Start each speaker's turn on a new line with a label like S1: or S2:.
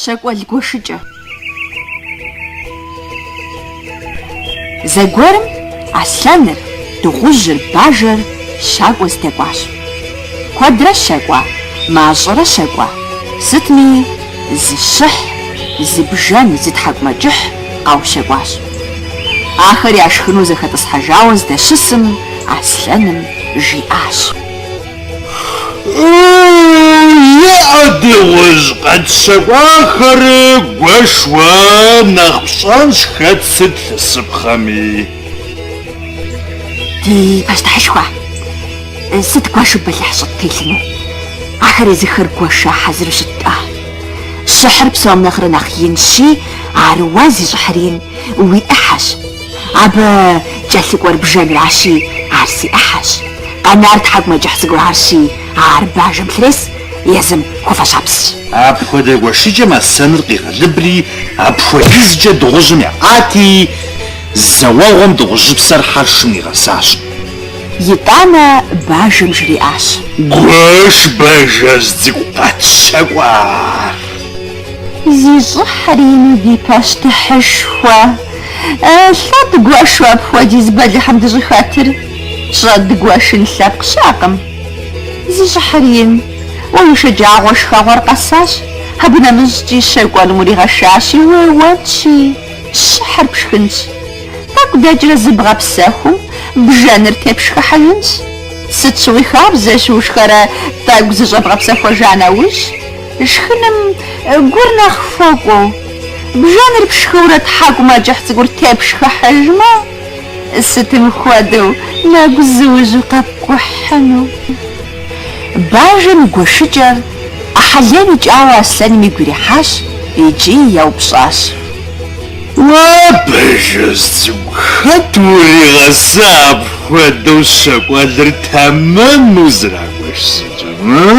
S1: Щэкӏуэл гуэшыкӏэ. Зэгуэрым Аслъэныр, Дыгъужьыр, Бажэр щакӏуэ здэкӏуащ. Куэдрэ щэкӏуа, мащӏэрэ щэкӏуа, сытми зы щыхь, зы бжэн, зы тхьэкӏумэкӏыхь къаущэкӏуащ. Ахэр яшхыну зэхэтӏысхьэжауэ здэщысым Аслъэным жиӏащ.
S2: Еӏэ дыгъужь къэтщэкӏуахэр гуэш, уэ нэхъ пщӏэнщ хэт сыт лъысыпхъэми.
S1: Ди пащтыхьышхуэ, сыт дгуэшу бэлыхь щӏыттелъыну? Ахэр езыхэр гуэша хьэзыру щыт-тӏэ. Щыхьыр псом нэхърэ нэхъ инщи, ар уэ зи щӏыхьыр ин уи ӏыхьэщ. Абы кӏэлъыкӏуэр бжэнращи, ар си ӏыхьэщ. Къэнар тхьэкӏумэкӏыхь цӏыкӏу арщи, ар бажэм лърес, езым хуэфэщапсщ. Апхуэдэ
S2: гуэшыкӏэм Аслъэныр къигъэлыбри, апхуэдизкӏэ дыгъужьым еӏати, зэуэгъуэм дыгъужьыпсэр хьэршым нигъэсащ. Итӏанэ
S1: бажэм жриӏащ. Гуэш
S2: бажэжь цӏыкӏу къэтщэкӏуа!
S1: Зи щӏыхьыр ину ди пащтыхьышхуэ. Лӏэ дыгуэшу апхуэдиз бэлыхьым дыщӏыхэтыр щӏэдгуэшын лъэпкъ щыӏэкъым. Зи щӏыхьыр ин. Уэ уи шэджагъуэ шхэгъуэр къэсащ, абы нэмыщӏкӏи щэкӏуэным уригъэшащи, уеуэнщи, щыхьыр пшхынщ. Тӏэкӏу дэкӏрэ зыбгъэпсэхум, бжэныр тепшхыхьыжынщ. Сыт щыгъуи хабзэщ ушхэрэ тӏэкӏу зыщӏэбгъэпсэхуэжа нэужь. Шхыным гур нэхъ хуэкӏуэу, бжэныр пшхыурэ тхьэкӏумэкӏыхь цӏыкӏур тепшхыхьыжмэ, сытым хуэдэу нэгузыужьу къэпкӏухьыну? Бажэм и гуэшыкӏэр ӏыхьэлейм икӏауэ Аслъэным игу ирихьащ икӏи
S2: еупщӏащ. Уэ бажэжь цӏыкӏу хэт уригъэса апхуэдэу щэкӏуэлыр тэмэму зэрагуэш щӏыкӏэм?